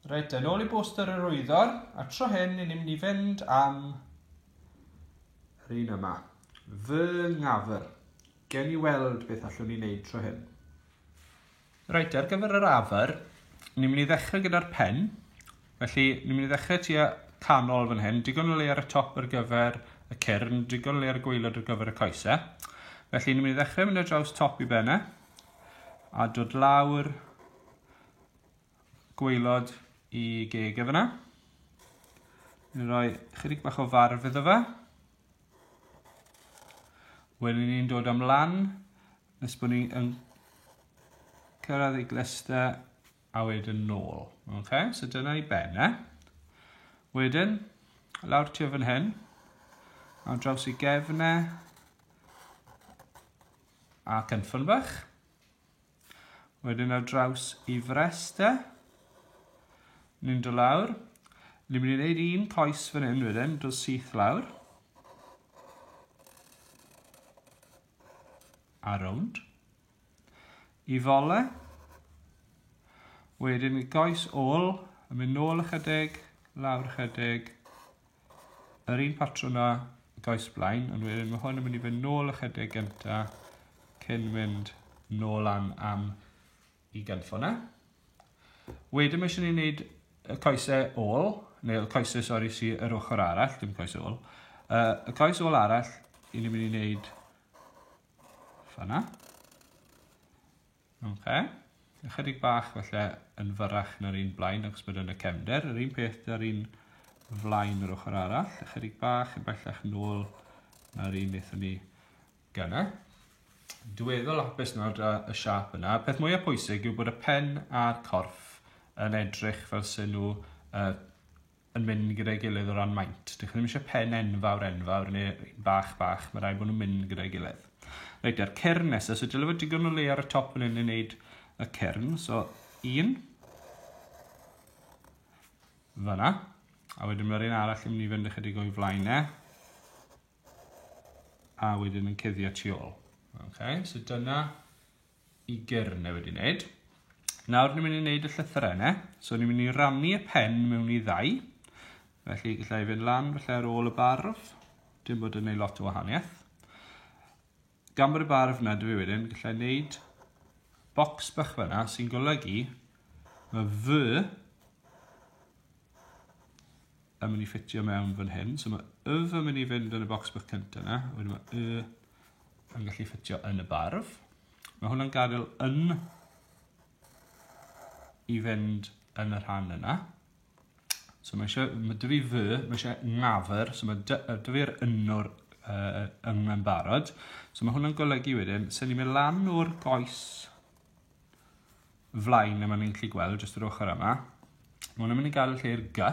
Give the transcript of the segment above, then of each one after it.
Reit, yn ôl i bwster yr wyddor, a tro hyn ni'n mynd i fynd am yr un yma. Fy ngafr. Gen ni weld beth allwn ni wneud tro hyn. Reit, ar gyfer yr afr, ni'n mynd i ddechrau gyda'r pen. Felly, ni'n mynd i ddechrau tua canol fan hyn, digon o le ar y top ar gyfer y cyrn, digon o le ar y gweilod ar gyfer y coesau. Felly, ni'n mynd i ddechrau mynd ar draws top i bennau. A dod lawr gweilod i geg e fyna. Ni'n rhoi chydig bach o farf iddo fe. Wedyn ni'n dod am lan nes bod ni'n cyrraedd ei glester a wedyn nôl. Okay? So dyna i ben e. Wedyn, lawr tu fan hyn, a draws i gefn e, A cynffon bach. Wedyn ar draws i fresta. Ni'n do lawr. Ni'n mynd i wneud un coes fan hyn wedyn, do syth lawr. A rownd. I fole. Wedyn i goes ôl, yn mynd nôl ychydig, lawr ychydig, Yr un patrwm a gais blaen, ond wedyn mae hwn yn mynd i fynd nôl ychydig gynta cyn mynd nôl lan am i gynffo na. Wedyn mae eisiau ni wneud y coesau ôl, neu y coesau, sori, si yr ochr arall, dim coesau ôl. Uh, y coes ôl arall, i ni'n mynd i wneud fanna. Ok. Ychydig bach felly yn fyrrach na'r un blaen ac bod yn y cefnder. Yr un peth da'r un flaen yr ochr arall. Ychydig bach yn bellach nôl na'r un wnaethon ni gyna. Dweddol hapus nawr da y siap yna. Peth mwyaf pwysig yw bod y pen a'r corff yn edrych fel sy'n nhw uh, yn mynd gyda'i gilydd o ran maint. Dych chi ddim eisiau pen enfawr enfawr neu bach bach, mae rhaid bod nhw'n mynd gyda'i gilydd. Reit, a'r cyrn nesaf, so dyle fod digon o le ar y top yn hyn i wneud y cyrn. So, un. Fyna. A wedyn mae'r un arall yn mynd i fynd ychydig o'i flaen e. A wedyn yn cuddio tu ôl. Okay, so dyna i gyrn e wedi wneud. Nawr ni'n mynd i wneud y llythyrau yna. So ni'n mynd i rannu y pen mewn i ddau. Felly gallai fynd lan felly ar ôl y barf. Dim bod yn gwneud lot o wahaniaeth. Gan bod y barf yna dwi wedyn, gallai wneud bocs bach fyna sy'n golygu mae fy yn mynd i ffitio mewn fan hyn. So mae y yn mynd i fynd yn y box bych cyntaf yna. Wedyn mae y yn gallu ffitio yn y barf. Mae hwnna'n gadael yn i fynd yn y rhan yna. So mae eisiau, mae dyfu fy, mae eisiau ngafr, so mae dyfu'r ynnwr uh, yng yn barod. So mae hwnna'n golygu wedyn, sy'n ni'n mynd lan o'r goes flaen yma ni'n gallu gweld jyst yr ochr yma. Mae hwnna'n mynd i gael lle'r gy,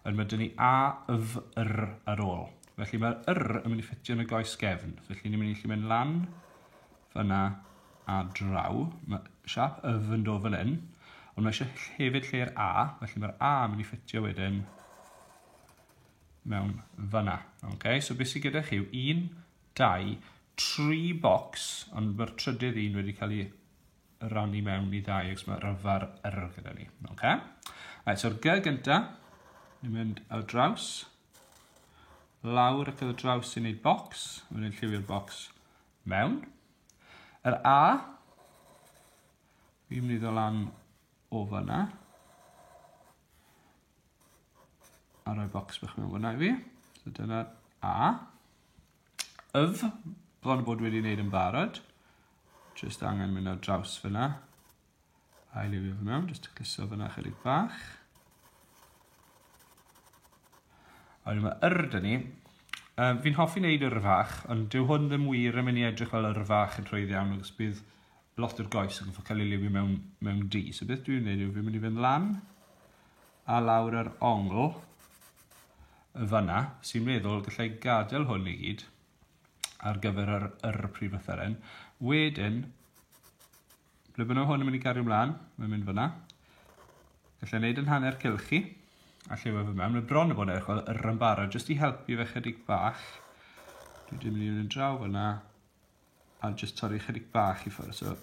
yn mae dyn ni a, yf, yr ar ôl. Felly mae'r yr yn mynd i ffitio yn y goes gefn. Felly ni'n mynd i gallu mynd lan fyna a draw. Mae siap yf yn dod fan hyn, ond mae eisiau hefyd lle'r a, felly mae'r a yn mynd i ffitio wedyn mewn fyna. Okay? So beth sydd gyda chi yw 1, dau, tri bocs, ond mae'r trydydd un wedi cael ei rannu mewn i ddau, ac mae rhyfar yr gyda ni. Okay? Right, so'r G gynta, ni'n mynd ar y draws, lawr ac ar y draws sy'n gwneud bocs, mae'n gwneud lliwio'r bocs mewn. Yr A, fi'n mynd i ddod lan o fyna, a rhoi bocs bach mewn fyna i fi. So dyna'r A. Yf, bron a bod wedi wneud yn barod. Just angen mynd ar draws fyna. A'i liwio fe mewn, just tacluso fyna chydig bach. A wedyn mae yr da ni. Um, fi'n hoffi wneud yr fach, ond dyw hwn ddim wir yn mynd i edrych fel yr fach yn trwydd iawn, agos bydd lot o'r goes yn ffordd cael ei liwio mewn, mewn di. So beth dwi'n wneud yw fi'n mynd i fynd lan, a lawr yr ongl yn fanna, sy'n meddwl gallai gadael hwn i gyd ar gyfer yr, yr prif lythyren. Wedyn, ble bynnag hwn yn mynd i gario mlaen, mae'n mynd fyna. Gallai wneud yn hanner cylch chi, a llewa fe mewn. Mae bron y bod eich yr yn barod, jyst i helpu fe chydig bach. Dwi wedi mynd i'n draw fyna, a jyst torri chydig bach i ffwrdd. So,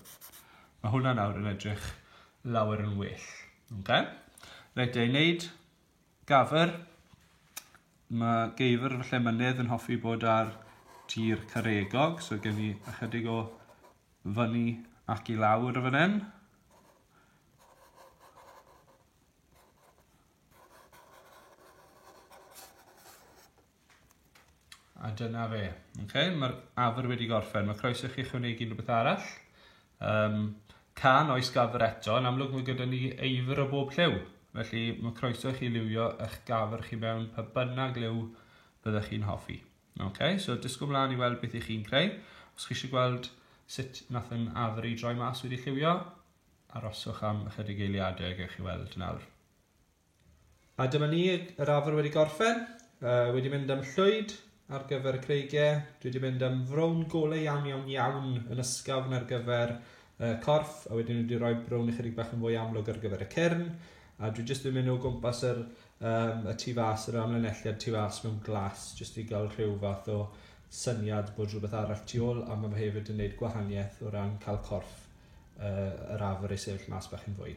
mae hwnna nawr yn edrych lawer yn well. Okay? Rhaid ei wneud gafr. Mae geifr fy lle mynydd yn hoffi bod ar tir caregog, so gen i ychydig o fyny ac i lawr o fan hyn. A dyna fe. Okay, Mae'r afr wedi gorffen. Mae croeso chi chwnegu rhywbeth arall. Um, can oes gafr eto, yn amlwg mae gyda ni eifr o bob lliw. Felly mae croeso chi liwio eich gafr chi mewn pa bynnag liw byddwch chi'n hoffi. Okay, so disgwyl mlaen i weld beth i chi'n creu. Os chi eisiau gweld sut nath yn afr i droi mas wedi lliwio, aroswch am ychydig eiliadau, gwych chi weld nawr. A dyma ni, yr afr wedi gorffen, uh, wedi mynd am llwyd ar gyfer y creigiau, dwi wedi mynd am frown golau iawn iawn iawn yn ysgafn ar gyfer uh, corff, a wedyn wedi rhoi brown ychydig bach yn fwy amlwg ar gyfer y cyrn, a dwi jyst wedi mynd o gwmpas yr, um, y tu fas, yr amlinelliad tu fas mewn glas, jyst i gael rhyw fath o syniad bod rhywbeth arall tu ôl, a mae fe hefyd yn gwneud gwahaniaeth o ran cael corff uh, yr afr ei sefyll mas bach yn fwy.